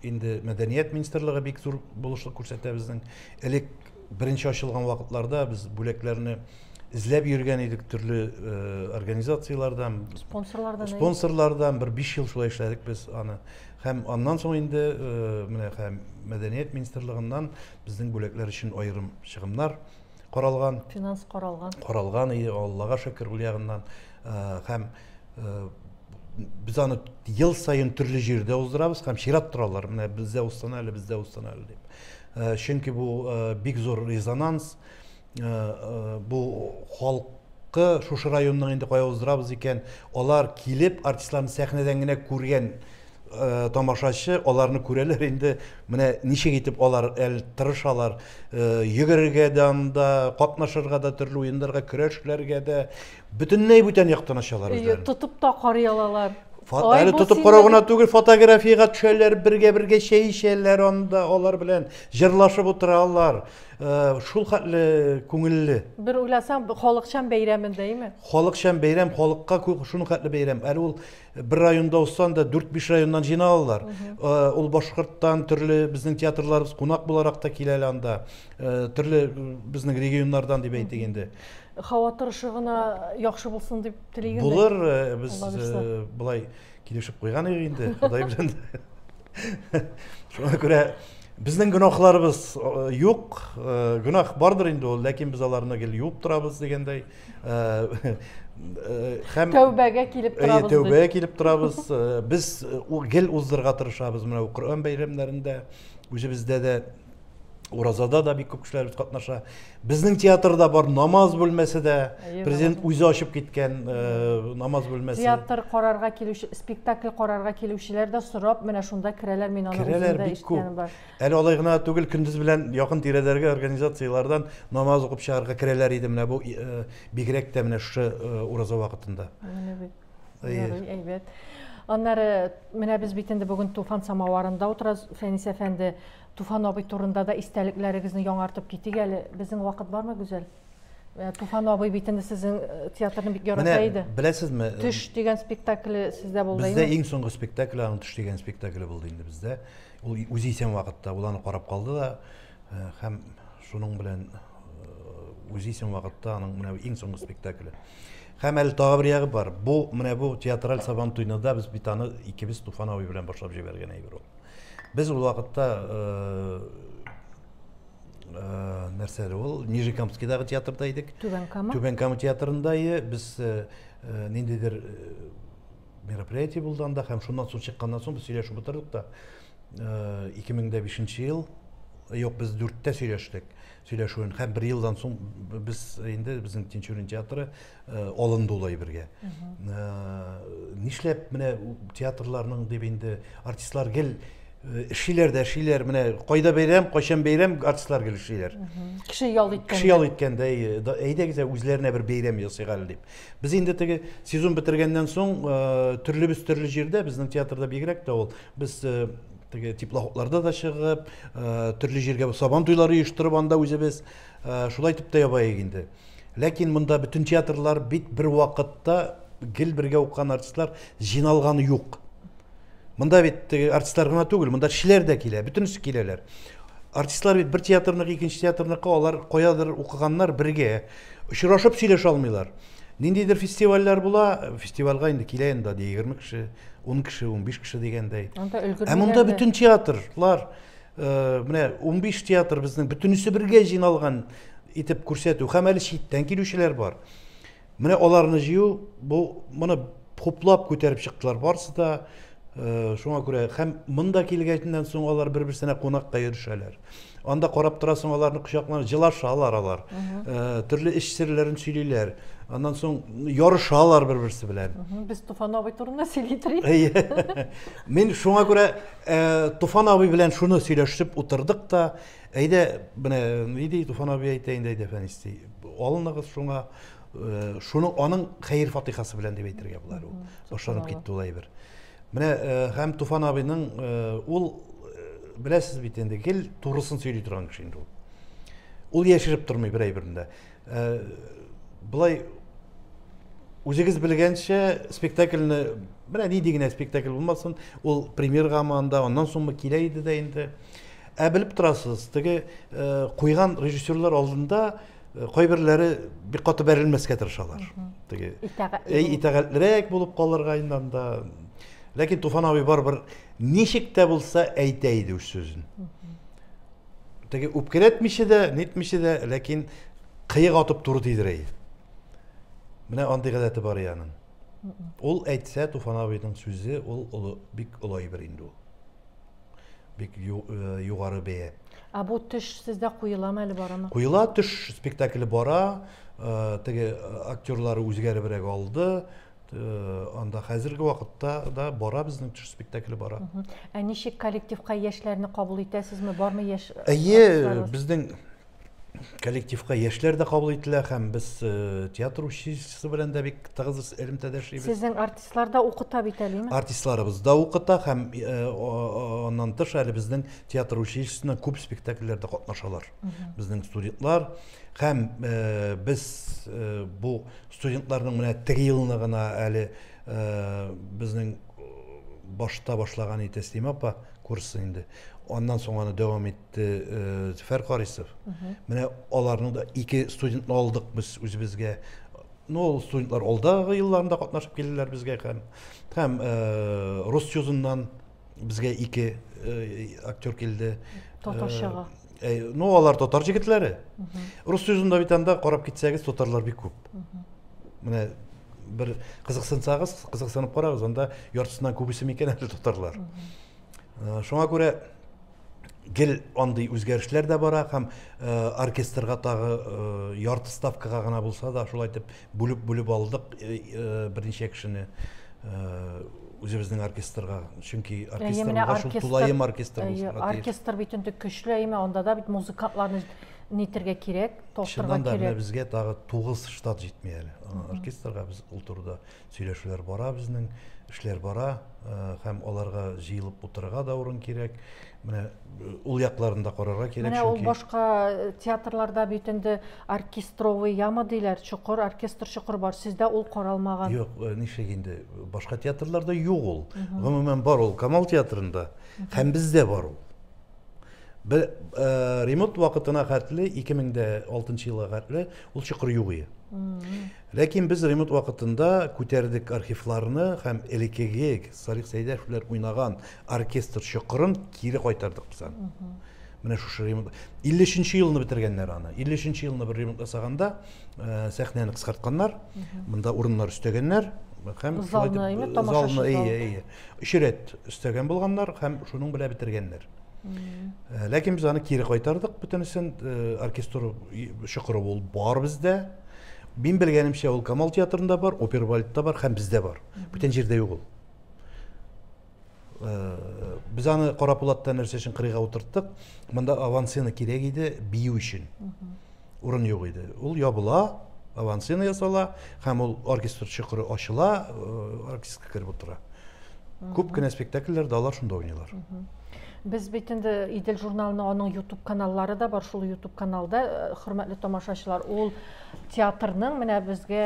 инде мәдәният министрлыгы бик зур булышлык күрсәтә безнең. Элек беренче ачылган вакытларда без бүләкләрне эзләп йөргән идек төрле э, организацияләрдән, Спонсорлардан, әйе. спонсорлардан бер 5 ел шулай эшләдек без аны. Һәм аннан соң инде э, менә һәм мәдәният министрлыгыннан безнең бүләкләр өчен аерым чыгымнар каралган. Финанс каралган. Каралган иде, Аллага шөкер, ул ягыннан. Һәм без аны ел саен төрле җирдә уздырабыз һәм чират торалар, менә бездә узсын әле, бездә узсын әле дип. Чөнки бу бик зур резонанс, бу халык халыкка шушы районның инде кая уздырабыз икән алар килеп артистларны сәхнәдән генә күргән Э, тамашачы аларны күрәләр инде менә ничек итеп алар әл тырышалар э, йөгерергә дә анда катнашырга да төрле уеннарга көрәшләргә дә бөтенләй бүтән яктан ачалар үзләрен тотып та карый алалар әле тотып карау гына түгел фотографиягә төшәләр бергә бергә чәй эчәләр анда алар белән җырлашып утыралар э, шул хәтле күңелле бер уйласаң халыкчан бәйрәмендәйме халыкчан бәйрәм халыкка шул хәтле бәйрәм әле ул бер районда узса анда дүрт биш районнан җыйналалар э, ул башкорттан төрле безнең театрларыбыз кунак буларак та килә әле анда э, төрле безнең регионнардан дип әйтик инде һава торышы гына яхшы булсын дип телим булыр э, без былай килешеп куйган идек инде ходай белән шуңа күрә безнең гөнаһларыбыз юк гөнаһ бардыр инде ул ләкин без аларны гел юып торабыз дигәндәй һәм тәүбәгә килеп торабыз әйе тәүбәгә килеп торабыз без гел уздырырга тырышабыз менә коръән бәйрәмнәрендә үзебездә дә уразада да бик күп кешеләребез катнаша безнең театрда бар намаз бүлмәсе дә президент үзе ачып киткән намаз бүлмәсе театр карарга килүче спектакль карарга килүчеләр дә сорап менә шунда керәләр мин аны үзем дә ишеткәнем бар Әле алай гына да түгел, көндез белән якын тирәдәрге организацияләрдән намаз укып чыгарга керәләр иде менә бу бигрәк тә менә шушы ураза вакытында. Менә бит. Ярый, әйбәт. Аннары менә без бит инде бүген Туфан самаварында утырабыз. Фәнис әфәнде, Туфан абый турында да истәлекләрегезне яңартып китик әле. Безнең вакыт бармы, Гүзәл? Э, Туфан абый бит инде сезнең э, театрны бик ярата иде. Менә беләсезме? Э, Төш дигән спектакле сездә булды. Бездә иң соңгы спектакль аның Төш дигән спектакле булды инде бездә. Ул үзе исән вакытта ул аны карап калды да э, һәм шуның белән э, үзе исән вакытта аның менә иң соңгы спектакле. Һәм әле тагы бер ягы бар. Бу менә бу театраль сабан туйны да без бит аны икебез Туфан абый белән башлап җибәргән әйбер ул. Без ул вакытта э, э, нәрсә әле ул Нижекамскидагы театрда идек. Түбән Кама. Түбән Кама театрында е, без э, э, ниндидер э, мероприятие булды анда һәм шуннан соң чыкканнан соң без сөйләшеп утырдык та э, ике мең дә бишенче ел юк без дүрттә сөйләштек сөйләшүен һәм бер елдан соң без инде безнең тинчурин театры э, алынды ул әйбергә э, нишләп менә театрларның дип инде артистлар гел э, эшлиләр дә эшлиләр менә кайда бәйрәм кайчан бәйрәм артистлар гел эшлиләр кеше ял иткән кеше ял иткәндәй әйдәгез үзләренә бер бәйрәм ясыйк әле дип Без инде теге сезон бетергәннән соң төрлебез төрле җирдә, безнең театрда бигрәк тә ул. Без теге теплоходларда да чыгып, төрле җиргә сабан туйлары оештырып анда үзебез шулай итеп тә ябаек инде. Ләкин монда бөтен театрлар бит бер вакытта гел бергә укыган артистлар җыйналганы юк. Монда бит теге артистлар гына түгел, монда кешеләр дә килә, бөтенесе киләләр. Артистлар бит бер театрныкы, икенче театрныкы алар каядыр укыганнар бергә. Очрашып сөйләшә алмыйлар. Ниндидер фестивальләр була, фестивальгә инде килә инде 20 кеше, 10 кеше, 15 кеше дигәндәй. Ә монда бөтен театрлар, э, менә 15 театр безнең бөтенесе бергә җыйналган итеп күрсәтү. Һәм әле читтән килүчеләр бар. Менә аларны җыю, бу моны хуплап күтәреп чыктылар барысы да. Э, шуңа күрә һәм монда килгәннән соң алар бер берсенә кунакка йөрешәләр анда карап торасың аларны кочакланып җылашалар алар э, төрле эш серләрен сөйлиләр аннан соң ярышалар бер берсе белән без туфан абый турында сөйли торыйк мин шуңа күрә э, туфан абый белән шуны сөйләшеп утырдык та Әйдә, менә ни ди Туфан абый әйтә инде, әйдә Фәнис ди. Алыныгыз шуңа, э, шуның аның хәер фатихасы белән дип әйтергә була әле ул. Башланып китте ул әйбер. Менә э, һәм Туфан абыйның э, ул э, беләсез бит инде, гел турысын сөйли торган кеше инде ул. Ул яшереп тормый бер әйберендә. Э, Былай үзегез белгәнчә спектакльне менә нинди генә спектакль булмасын, ул премьер гаманда, аннан соңмы килә иде дә инде. Ә белеп торасыз, теге куйган режиссерлар алдында кайберләре бик каты бәрелмәскә тырышалар. Теге итәгатьлерәк булып калырга иннан да. Ләкин Туфан абый барыбер ничек тә булса әйтә иде үз сүзен. Теге үпкәләтмичә дә, нитмичә дә, ләкин кыек атып туры тидерә иде. Менә андый гадәте бар яның. Ул әйтсә, Туфан абыйның сүзе, ул олы, бик олы әйбер инде ул. бик э, югары бәя. Ә бу төш сездә куеламы әле барамы? Куела төш спектакле бара, э, теге э, актерлары үзгәребрәк алды. Анда хәзерге вакытта да бара безнең төш спектакле бара. Ә ничек коллективка яшьләрне кабул итәсезме? Бармы яшь? Әйе, безнең коллективка яшьләр дә кабул ителә һәм без э, театр училищесы белән дә бик тыгыз элемтәдә эшлибез. Сезнең артистлар да укыта бит әлеме? Артистларыбыз да укыта һәм э, аннан тыш әле безнең театр училищесында күп спектакльләрдә катнашалар. Безнең студентлар һәм э, без бу студентларның менә теге елны гына әле безнең башта башлаган иде Тәслимә апа курсы инде. Аннан соң аны дәвам итте. Зөфәр Карисов. Менә аларның да ике студентны алдык без үзебезгә. Ну, ул студентлар алдагы елларында катнашып килделәр безгә һәм һәм рус чузыннан безгә ике актер килде. Татарчага. Ну, алар татар җегетләре. Рус чузында бит анда карап китсәгез, татарлар бик күп. Менә бер кызыксынсагыз, кызыксынып карагыз, анда яртысыннан күбесе микән әле татарлар. Шуңа күрә гел андый үзгәрешләр дә бара һәм э, оркестрга тагы э, ярты ставкага гына булса да шулай итеп бүлеп бүлеп алдык э, берничә кешене үзебезнең оркестрга чөнки оркестрга шул тулаем оркестр булсын оркестр бит инде көчле әйме анда да бит музыкантларны нитергә кирәк тотырга кирәк чыннан да безгә тагы тугыз штат җитми әле оркестрга без ул турыда сөйләшүләр бара безнең, эшләр бара э, һәм аларга җыелып утырырга да урын кирәк. Менә э, ул якларын да карарга кирәк. Менә ул башка э, театрларда бит инде оркестровый яма диләр, чокыр, оркестр чокыр бар. Сездә ул каралмаган. Юк, ничек инде башка театрларда юк ул. Гомумән бар ул Камал театрында һәм бездә бар ул. Бер э, ремонт вакытына хәтле 2006 елга хәтле ул чокыр юк иде. Ләкин без ремонт вакытында күтәрдек архивларны һәм элекеге Салих Сәйдәшевләр уйнаган оркестр чокырын кире кайтардык без аны. Менә шушы ремонт 53 елны бетергәннәр аны. 53 елны бер ремонт ясаганда э, сәхнәне кыскартканнар, монда урыннар өстәгәннәр һәм залны, залны, өч рәт өстәгән булганнар һәм шуның белән бетергәннәр э, ләкин без аны кире кайтардык бөтенесен э, оркестр чокыры ул бар бездә мин белгәнемчә ул камал театрында бар опер бальдта бар һәм бездә бар бүтән җирдә юк ул э, без аны кара пулатта нәрсә өчен кырыйга утырттык монда авансцена кирәк иде бию өчен урын юк иде. Ул ябыла, авансцена ясала һәм ул оркестр чокыры ачыла, э, оркестрга кереп утыра. Күп кенә спектакльләрдә алар шунда уйныйлар. Без бит инде Идел журналының аның YouTube каналлары да бар, шул YouTube каналда э, хөрмәтле тамашачылар, ул театрның менә безгә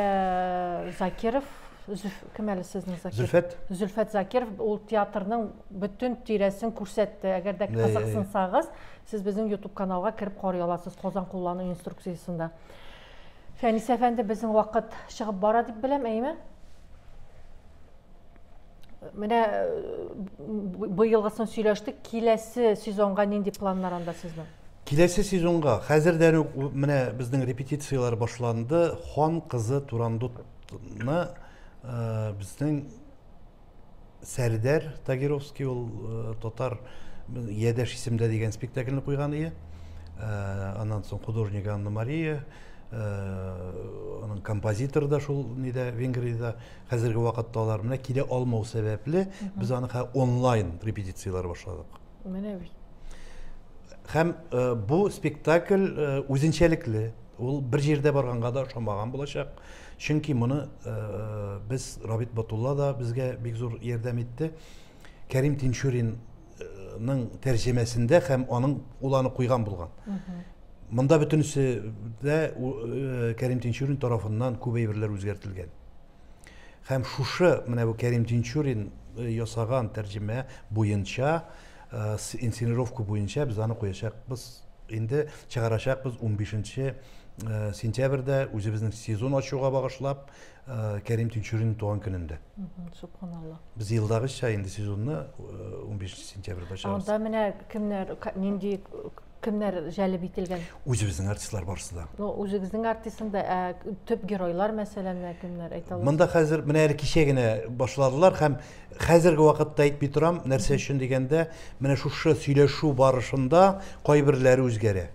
э, Закиров Зөф, кем әле сезнең Закиров? Зөлфәт. Зөлфәт Закиров ул театрның бөтен тирәсен күрсәтте. Әгәр дә Әй, әй, әй. кызыксынсагыз, Сез безнең ютуб каналга кереп карый аласыз Казан куллану инструкциясендә. Фәнис әфәнде, безнең вакыт чыгып бара дип беләм, әйме? Менә э, быелгысын сөйләштек, киләсе сезонга нинди планнар анда сезнең? Киләсе сезонга хәзердән үк менә безнең репетицияләр башланды. Хан кызы Турандутны э, безнең Сәрдәр Тагировский ул татар Ядәш исемдә дигән спектакльне куйган ие. Аннан соң художник Анна Мария, аның композитор да шул нидә Венгриядә хәзерге вакытта алар менә килә алмау сәбәпле без аны онлайн репетицияләр башладык. Менә бит. Һәм бу спектакль үзенчәлекле. Ул бер җирдә барганга да ошамаган булачак. Чөнки моны без Рабит Батулла да безгә бик зур ярдәм итте. Кәрим Тинчурин ның тәрҗемәсендә һәм аның ул аны куйган булган. Монда бөтенесе дә э, Кәрим Тинчурин тарафыннан күп әйберләр үзгәртелгән. Һәм шушы менә бу Кәрим Тинчурин э, ясаган тәрҗемә буенча Инсценировка буенча без аны куячакбыз. Инде чыгарачакбыз 15 нче сентябрьдә, үзебезнең сезон ачуга багышлап, Кәрим Тинчуринның туган көнендә. Субханалла. Без елдагыча инде сезонны 15 сентябрьдә чыгарабыз. Анда менә кемнәр, нинди Кемнәр җәлеп ителгән? Үзебезнең артистлар барысы да. Ну, үзегезнең артистында ә төп геройлар мәсәлән менә кемнәр әйтә аласыз? Монда хәзер менә әле кичә генә башладылар һәм хәзерге вакытта әйтми торам, нәрсә өчен дигәндә, менә шушы сөйләшү барышында кайберләре үзгәрә.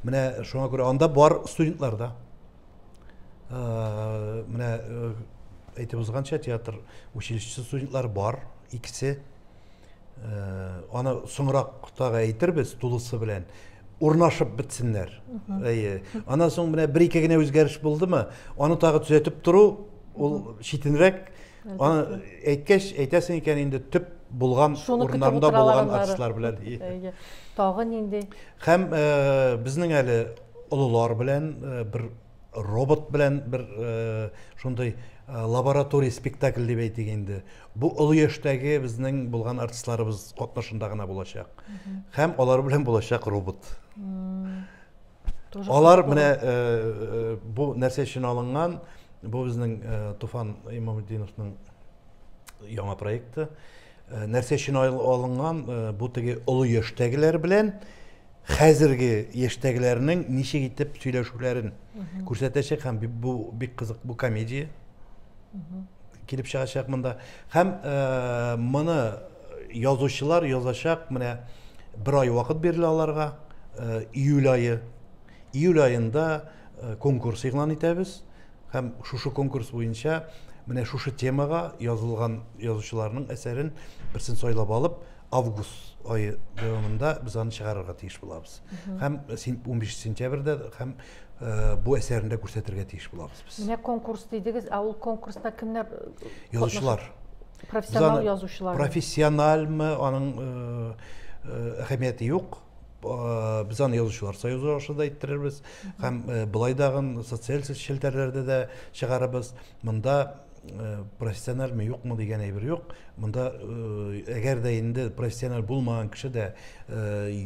Менә шуңа күрә анда бар студентлар да. Э, менә э, әйтеп узганча театр училищесы студентлары бар, икесе Э, аны соңрак тагы әйтербез тулысы белән урнашып бетсеннәр әйе анан соң менә бер ике генә үзгәреш булдымы аны тагы төзәтеп тору ул читенрәк аны әйткәч әйтәсең икән инде төп булган урыннарында булган артистлар белән тагы нинди һәм э, безнең әле олылар белән э, бер робот белән бер э, шундый э, лаборатория спектакль дип әйтик инде бу олы яшьтәге безнең булган артистларыбыз катнашында гына булачак һәм алар белән булачак робот алар менә э, бу нәрсә өчен алынган бу безнең туфан имамутдиновның яңа проекты Э, нәрсә өчен алынган э, бу теге олы яшьтәгеләр белән хәзерге яшьтәгеләрнең ничек итеп сөйләшүләрен күрсәтәчәк һәм бу бик кызык бу комедия килеп чыгачак монда һәм э, моны язучылар язачак менә бер ай вакыт бирелә аларга июль айы июль аенда конкурс игълан итәбез Һәм шушы конкурс буенча менә шушы темага язылган язучыларның әсәрен берсен сайлап алып, август айы дәвамында без аны чыгарырга тиеш булабыз. Һәм 15 сентябрьдә һәм э, бу әсәрне дә күрсәтергә тиеш булабыз без. Менә конкурс дидегез, ә ул конкурста кемнәр э, Язучылар. Профессионал язучылар. Профессиональмы, аның э, э, әһәмияте юк. Без аны язучылар союзы аша да иттерербез һәм болай дагын социаль челтәрләрдә дә чыгарыбыз. Монда профессиональмы юкмы дигән әйбер юк. Монда әгәр дә инде профессиональ булмаган кеше дә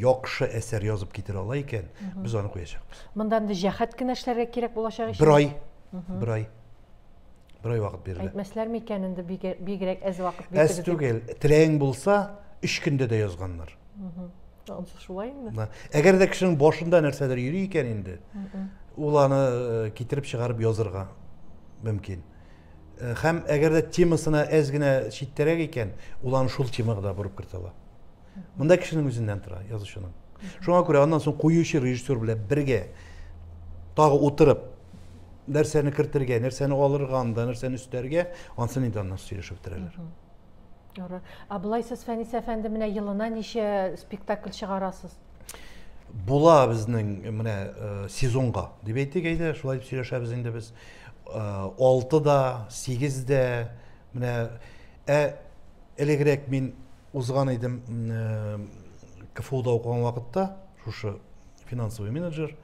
яхшы әсәр язып китерә ала икән, без аны куячакбыз. Монда инде җәһәт кенә эшләргә кирәк булачак икән. Бер ай. Бер ай. Бер ай вакыт бирелә. Әйтмәсләр микән инде бигрәк әз вакыт бирелә. Әз түгел, теләең булса, өч көндә дә язганнар. Шулай инде. Әгәр дә кешенең башында нәрсәдер йөри икән инде, ул аны э, китереп чыгарып язырга мөмкин. Э, һәм әгәр дә темасына әз генә читтәрәк икән, ул аны шул темага да борып кертә ала. Монда кешенең үзеннән тора, язучының. Шуңа күрә аннан соң куючы режиссер белән бергә тагы утырып нәрсәне кертергә, нәрсәне алырга анда, нәрсәне өстәргә, ансын инде аннан сөйләшеп бетерәләр. Ярар. А былай сез Фәнис әфәнде менә елына ничә спектакль чыгарасыз? Була безнең менә э, сезонга дип әйтик әйдә, шулай дип сөйләшәбез инде без. Э, алты да, сигез дә, менә ә элегрәк мин Узган идем КФУда укыган вакытта, шушы финансовый менеджер,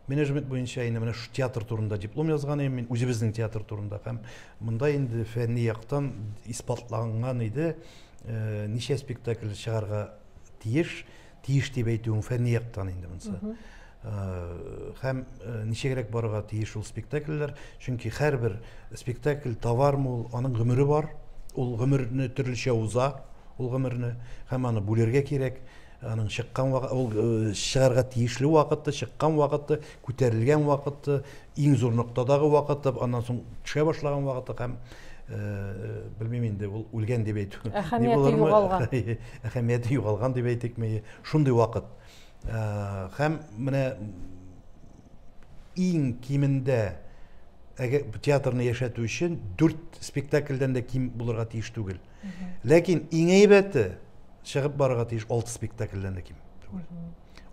менеджмент буенча инде менә шу театр турында диплом язган идем мин үзебезнең театр турында һәм монда инде фәнни яктан исбатланган иде э, ничә спектакль чыгарга тиеш Тиеш дип әйтүең фәнни яктан инде монысы. Һәм ничегрәк барырга тиеш ул спектакльләр, чөнки һәрбер спектакль товармы ул, аның гомере бар, ул гомерне төрлечә уза, ул гомерне һәм аны бүлергә кирәк аның чыккан вакыты, ул чыгарга тиешле вакыты, чыккан вакыты, күтәрелгән вакыты, иң зур ноктадагы вакыты, аннан соң төшә башлаган вакыты һәм белмим инде ул үлгән дип әйтү әһәмияте югалган әһәмияте югалган дип әйтикме шундый вакыт һәм менә иң кимендә әгәр театрны яшәтү өчен дүрт спектакльдән дә ким булырга тиеш түгел ләкин иң әйбәте чыгып барырга тиеш алты спектакльдән дә ким түгел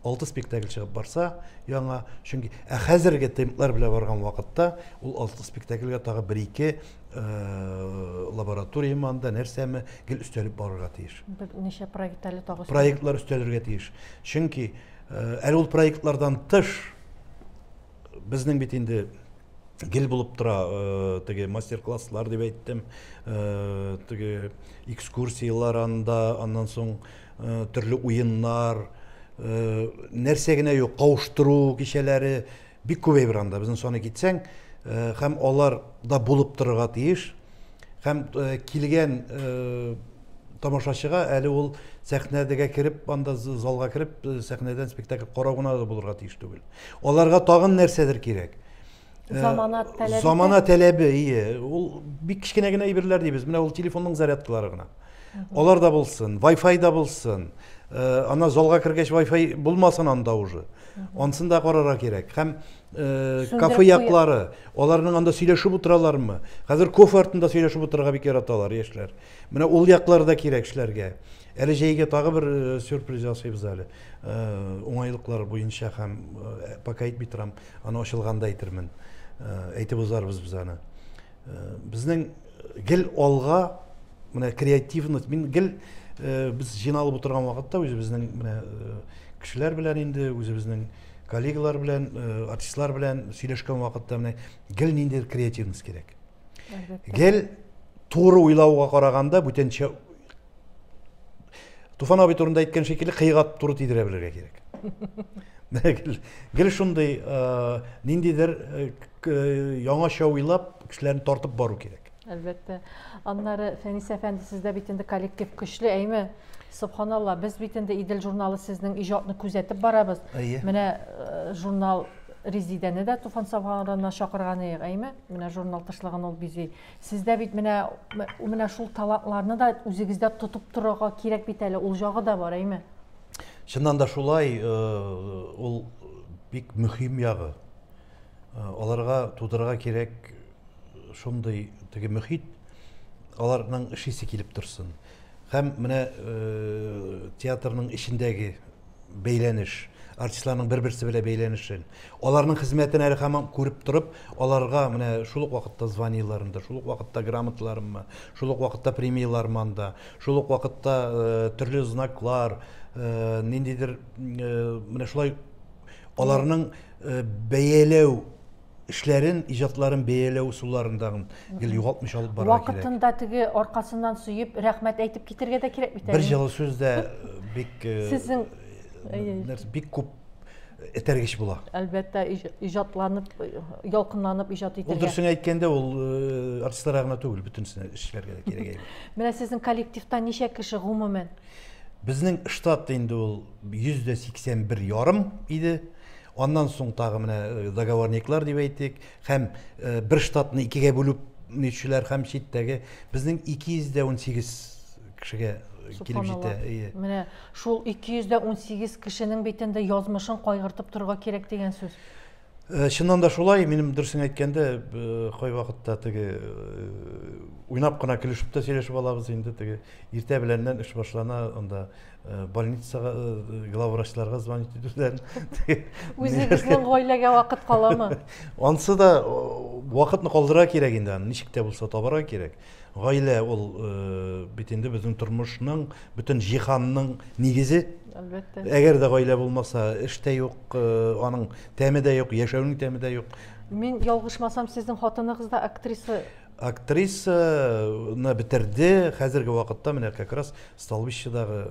алты спектакль чыгып барса яңа чөнки ә хәзерге темплар белән барган вакытта ул алты спектакльгә тагы бер ике э, лаборатория манда нәрсәме гел өстәлеп барырга тиеш берничә проект әле тагы проектлар өстәлергә тиеш чөнки э, әле ул проектлардан тыш безнең бит инде гел булып тора э, теге мастер класслар дип әйттем теге экскурсиялар анда аннан соң төрле уеннар, нәрсә генә юк, кавыштыру кичәләре бик күбәйеп бара анда. Безнең саны китсәң, һәм алар да булып торырга тиеш. Һәм килгән тамашачыга әле ул сәхнәдәгә кереп, анда залга кереп, сәхнәдән спектакль карау гына да булырга тиеш түгел. Аларга тагын нәрсәдер кирәк. Э, замана таләбе замана таләбе ие ул бик кечкенә генә әйберләр дибез менә ул телефонның зарядкалары гына алар да булсын вай фай да булсын э, ана залга кергәч вай фай булмасын анда уже ансын да карарга кирәк һәм э, кафе яклары аларның анда сөйләшеп утыралармы хәзер кофе артында сөйләшеп утырырга бик яраталар яшьләр менә ул яклар да кирәк эшләргә әле җәйгә тагы бер сюрприз ясыйбыз әле уңайлыклар буенча һәм пока әйтми торам Аны ачылганда әйтермен. Э, әйтеп узарбыз без аны. Э, безнең гел алга менә креативность, мин гел э, без җыйналып утырган вакытта үзебезнең менә кешеләр белән инде, үзебезнең коллегалар белән, артистлар белән сөйләшкән вакытта менә гел ниндидер креативность кирәк. гел туры уйлауга караганда бүтәнчә туфан абый турында әйткән шикелле кыйга туры тидерә белергә кирәк гел шундый э, ниндидер э, э, яңача уйлап кешеләрне тартып бару кирәк әлбәттә аннары фәнис әфәнде сездә бит инде коллектив көчле әйме субханалла без бит инде идел журналы сезнең иҗатны күзәтеп барабыз менә журнал резидәне дә туфан сабханарына чакырган идек әйме Менә журнал тышлыгын ул бизи. Сездә бит менә менә шул талантларны да үзегездә тотып торырга кирәк бит әле. Ул җагы да бар, әйме? Чыннан да шулай, э, ул бик мөһим ягы. Э, аларга тудырырга кирәк шундый теге мөхит, аларның эшлисе килеп торсын. Һәм менә э, театрның эчендәге бәйләнеш, артистларның бер-берсе белән бәйләнешен, аларның хезмәтен әле һаман күреп торып, аларга менә шул ук вакытта званиеләрен дә, шул ук вакытта грамоталарымны, шул ук вакытта премияләрне анда, шул ук вакытта э, төрле знаклар, э, ниндидер э, менә шулай аларның э, бәяләү эшләрен, иҗатларын бәяләү ысулларындагын гел югалтмыйча алып барырга кирәк. Вакытында теге аркасыннан сөеп, рәхмәт әйтеп китергә дә кирәк бит әле. Бер җылы сүз дә э, бик э, Сезнең э, бик күп этәргеч була. Әлбәттә, иҗатланып, ялкынланып иҗат итергә. Ул дөресен әйткәндә, ул артистларга гына түгел, бөтенесенә эшләргә дә кирәк әйбер. Менә сезнең коллективта ничә кеше гомумән? Безнең штат инде ул 181 ярым иде. Аннан соң тагы менә договорниклар дип әйтик, һәм бер штатны икегә бүлүп ничүләр һәм читтәге безнең 218 кешегә килеп җитә. Менә шул 218 кешенең бит инде язмышын кайгыртып торырга кирәк дигән сүз. Чыннан да шулай, минем дөресен әйткәндә, кайвакытта теге уйнап кына көлешеп тә сөйләшеп алабыз инде, теге иртә беләннән эш башлана, анда Э, больницага э, главврачларга звонить итүдән үзегезнең гаиләгә вакыт каламы анысы да вакытны калдыра кирәк инде аны ничек тә булса табарга кирәк гаилә ул э, бит инде безнең тормышның бөтен җиһанның нигезе әлбәттә әгәр дә гаилә булмаса эш тә юк аның тәме дә юк яшәүнең тәме дә юк мин ялгышмасам сезнең хатыныгыз да актриса Актрисаны бетерде, хәзерге вакытта менә как раз Столбищедагы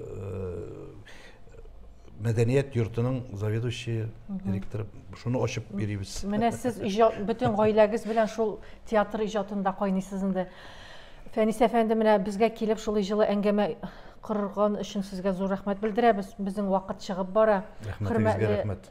мәдәният йортының заведующие директоры шуны ачып йөрибез менә сез иҗат бөтен гаиләгез белән шул театр иҗатында кайныйсыз инде фәнис әфәнде менә безгә килеп шулай җылы әңгәмә корган өчен сезгә зур рәхмәт белдерәбез безнең вакыт чыгып бара рәхмәтегезгә рәхмәт